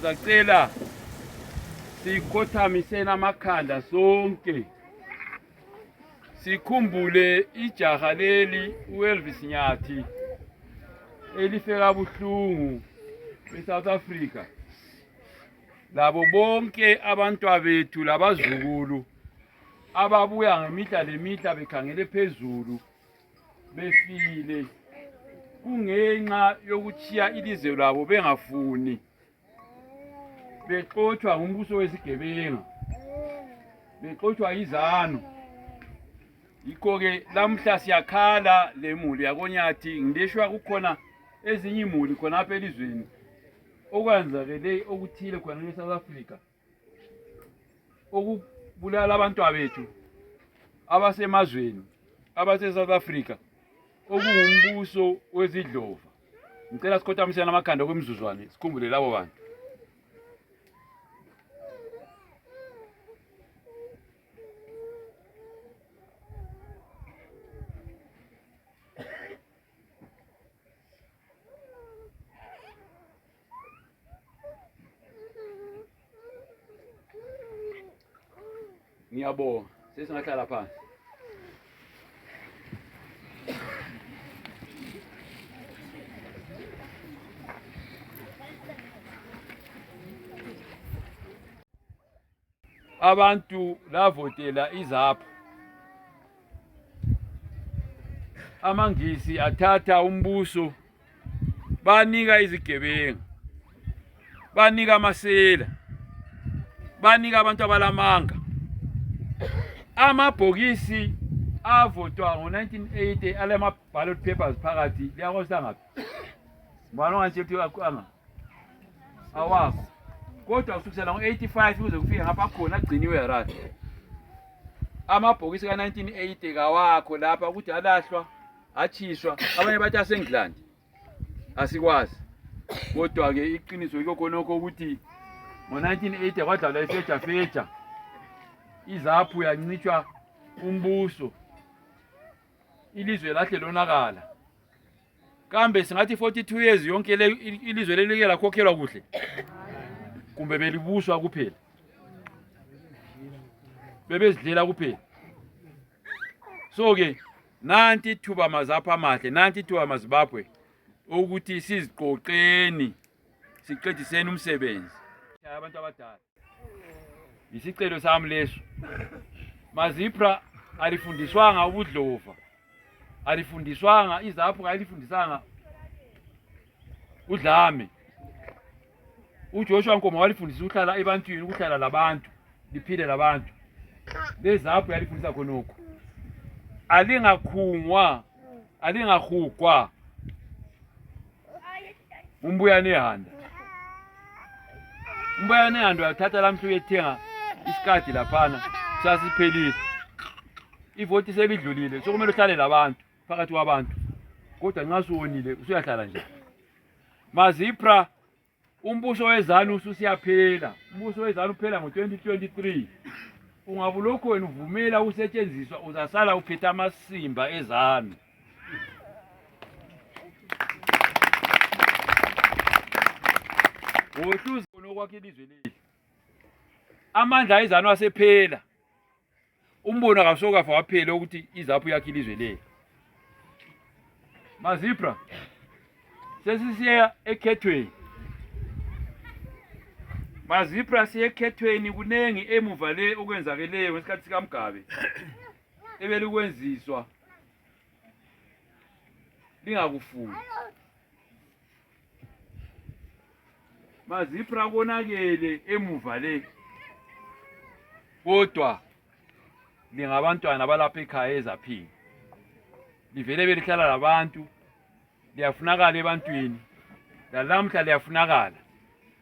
Sacela sikhothamiseni amakhanda sonke sikhumbule ijaha leli uElvis Nyathi elifeka buhlungu eSouth Africa labo bonke abantwabethu labazukulu ababuya ngemihla lemihla bekhangele phezulu befile kungenxa yokutshiya ilizwe labo bengafuni bexotshwa ngumbuso wesigebenga bexotshwa yizanu yikho-ke lamhla siyakhala le muli yakonyathi ngileshwa kukhona ezinye imuli khonapha elizweni okwenzakele okuthile khona e-south africa okubulala abantwabethu abasemazweni abase-south africa okungumbuso wezidlova ngicela sikhothamisela amakhanda okwemizuzwane sikhumbule labo bantu Ni abo. Sisi tunakala pa. abantu lavotela izaphu amangisi athatha umbuso banika izigebengu banika amasela banika abantu abalamanga amabhokisi avotwa ngo-1980 alama-ballot papers phakathi liyakosangaphi ngibani ongatshela ukuthi anga awazi kodwa kusukisela ngo-85 kuze kufike ngapha khona agciniwe harare amabhokisi ka-1980 kawakho lapha ukuthi alahlwa atshiswa abanye bathi asengland asikwazi kodwa-ke iqiniso yikho khonokho ukuthi ngo-1980 kwadlalwa ifejafeja izaphu yancitshwa umbuso ilizwe lahle lonakala kambe singathi 42 years yonke le ilizwe lelike lakhokhelwa kuhle kumbe belibuswa kuphela bebezidlela kuphela so ke nanti thuba mazapha amahle nanti thuba mazibabwe ukuthi siziqoqeni siqediseni umsebenzi abantu abadala Yisicelo sami leso. Mazipra alifundiswanga ubudlova. Alifundiswanga izaphu alifundisanga udlame. UJoshua Nkomo walifundisa ukuhlala ebantwini, ukuhlala labantu, liphile labantu. Lezaphu yalifundisa khonokho. Alingakhungwa, alingahugwa. umbuya anehanda umbuya anehanda uyathatha lamhla uyethenga isikadi laphana sasiphelile ivoti selidlulile sokumele uhlale labantu phakathi kwabantu kodwa nxa suwonile usuyahlala njani mazipra Umbuso wezanu ususiyaphela. Umbuso wezanu uphela ngo-2023. Ungabe ulokhu wena uvumela ukusetshenziswa uzasala uphethe amasimba ezanu. Wohluza khona okwakhe ilizwe leli. Amandla ezanu asephela. umbono akasokafa waphele ukuthi izaphu yakhe ilizwe leyo mazipra sesisiya ekhethweni mazipra siyekhethweni kuningi emuva le okwenzakeleyo ngesikhathi sikamgabe ebelikwenziswa lingakufuni mazipra konakele emuva le kodwa lingabantwana balapha ekhaya ezaphila livele belihlala labantu liyafunakala ebantwini lalamhla liyafunakala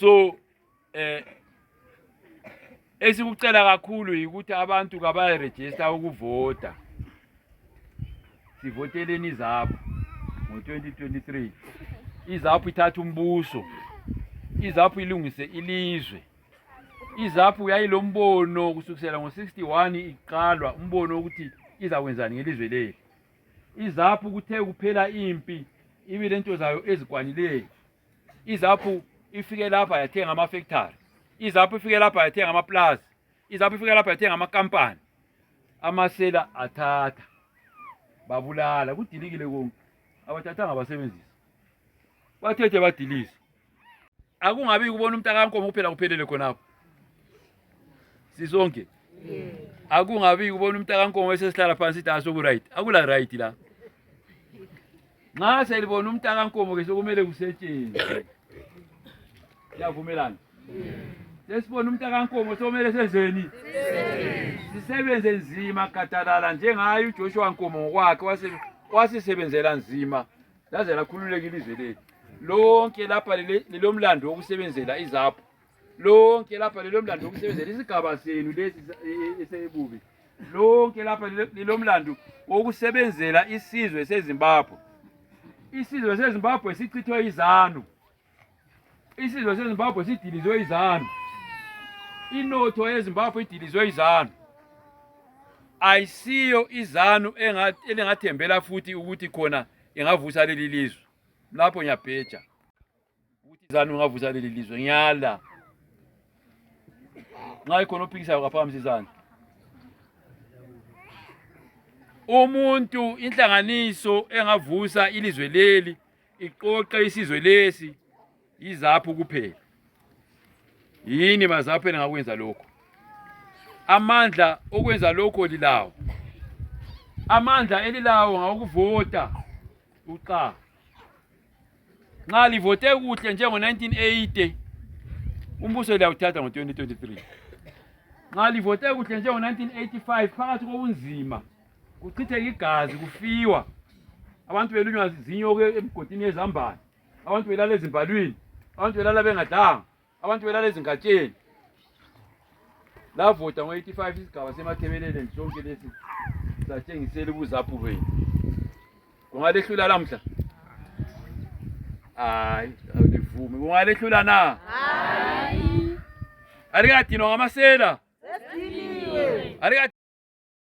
so eh esikucela kakhulu yikuthi abantu kabayarejista ukuvota sivoteleni izaphu ngo-2023 izaphu ithatha umbuso izaphu ilungise ilizwe izaphu yayilombono kusukisela ngo-61 iqalwa umbono wokuthi izakwenzani ngelizwe leli izaphu kuthe kuphela impi ibi lento zayo ezikwanileyo izaphu ifike lapha yathenga amafektari izaphu ifike lapha yathenga amaplazi izaphu ifike lapha yathenga amakampani amasela athatha babulala kudilikile konke abathathanga basebenzisa bathethe badilisa akungabi kubona umntakankomo kuphela kuphelele khonapho sisonke akungabi kubona umntakankomo esesihlala phansi ithi asoku-right akula right la nxa selibona umntakankomo ke sokumele kusetshenzwe siyavumelana sesibona umntakankomo sokumele senzeni sisebenze nzima gadalala njengaye ujoshua nkomo ngokwakhe wasisebenzela nzima laze lakhululeka ilizwe lethu lonke lapha lilomlando wokusebenzela izapho lonke lapha lilomlando wokusebenzela isigaba senu lesi esebubi lonke lapha lilomlando wokusebenzela isizwe sezimbabwe isizwe sezimbabwe sichithwe izanu Isizwe seZimbabwe sidilizwe izanu. Inotho yeZimbabwe idilizwe izanu. Ayisiyo izanu elingathembela futhi ukuthi khona ingavusa leli lizwe. Lapho ngiyabheja. Ukuthi izanu ingavusa leli lizwe ngiyala. Nxa ikhona ophikisayo kaphakamisa izandla. umuntu inhlanganiso engavusa ilizwe leli iqoqa isizwe lesi yizaphu kuphela yini mazaphu elingakwenza lokho amandla okwenza lokho lilawo amandla elilawo ngawokuvota uxa nxa livote kuhle njengo-1980 umbuso liyawuthatha ngo-2023 nxa livote kuhle njengo-1985 phakathi kobunzima kuchitheka igazi kufiwa abantu belunywa zinyoke emgodini yezambane abantu belala ezimbalwini abantu belala bengadlanga abantu belala ezingatsheni lavota ngo-85 isigaba semathebeleleni sonke lesi satshengisela ubuzaphu benu kungalehlula lamhla hayi awulivumi kungalehlula na hayi alikadinwa ngamasela alikathi